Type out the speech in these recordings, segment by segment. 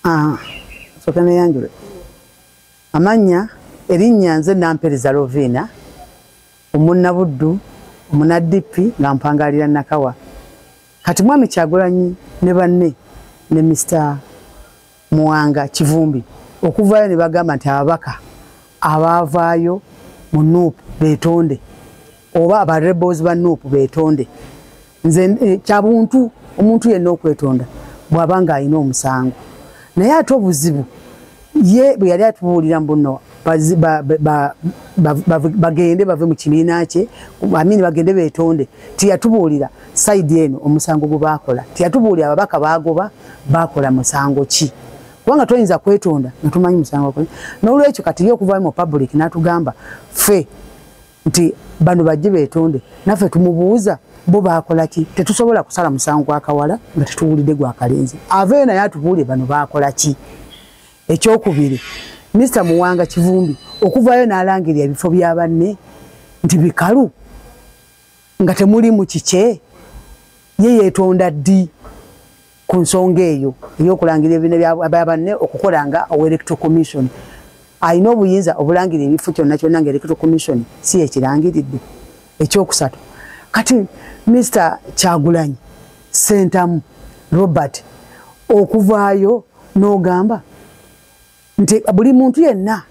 Ah, soka neyanjule amannya erinnya nze nampereza loviina omunnabuddu omunadippi nga mpangaalira nakawa kati mwami kyagulanyi ne banne ne mister Muwanga Kivumbi okuvaayo ne bagamba nti ababaka abaavaayo mu nup betonde oba aba rebels ba nup betonde nze eh, kyabuntu omuntu yenna okwetonda bw'aba ng'alina omusango naye ate obuzibu ye bwe yali atubuulira mbuno bagende bave mu kibiina kye amini bagende betonde tiyatubuulira saidi eno omusango gwe baakola tiyatubuulira ababaka baagoba baakola musango ki kubanga toyinza kwetonda nga tumanyi musango gwe n'olwekyo kati ye okuvayo mu public n'atugamba ffe nti bano bajje betonde naffe tumubuuza bo baakola ki tetusobola kusala musango gwakawala nga tetuwulidde gwakalenzi aveyo naye atubuulire bano baakola ki ekyokubiri Mr Muwanga Kivumbi okuvayo nalangira ebifo bya banne nti bikalu nga temuli mu kikye ye yetonda ddi ku nsonga eyo eyokulangira ebine bya banne okukola nga owa electro commission alina obuyinza obulangira ebifo kyonna kyonna nga electro commission si yekirangiridde ekyokusatu kati Mr Kyagulanyi sentamu robert okuvaayo n'ogamba nti buli muntu yenna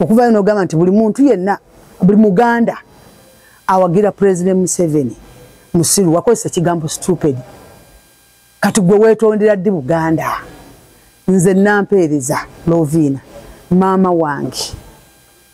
okuvaayo n'ogamba nti buli muntu yenna buli muganda awagira president museveni musiru wakozesa ekigambo stupid kati gwe weetondera ddi buganda nze nampeereza loviina maama wange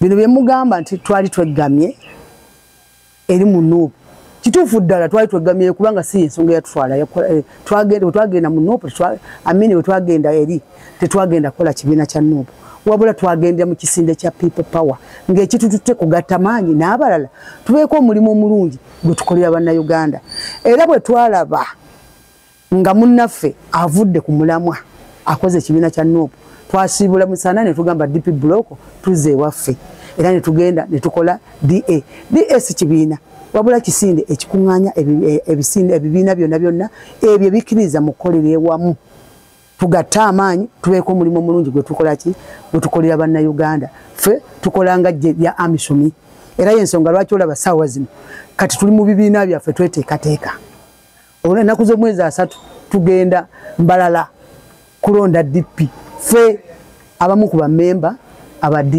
bino bye mugamba nti twali tweggamye eri mu nuupu kituufu ddala twali tweggamye kubanga si ensonga yatutwala eh, twagenda mu nuupu amini we twagenda eri tetwagenda kukola kibiina kya nuupu wabula twagendera mu kisinde kya people power ng'ekitututte kugatta maanyi n'abalala tubeeko omulimu omulungi gwe tukolera bannayuganda era bwe twalaba nga munnaffe avudde ku mulamwa akoze ekibiina kya nuupu twasiibula musana ne tugamba dp buloko tuzza ewaffe era ne tugenda ne tukola da da si kibiina wabula kisinde ekikuŋŋaanya e, ebisinde ebibiina byonna byonna ebyo bikkiriza mu kukolera ewamu tugatte amaanyi tubeeko omulimu omulungi gwe tukola ki gwe tukolera bannayuganda ffe tukola nga lya amisumi era y'ensonga lwaki olaba saawa zino kati tuli mu bibiina byaffe tweteekateeka olwo ennaku z'omwezi asatu tugenda mbalala kulonda dp fe abamu ku bamemba aba da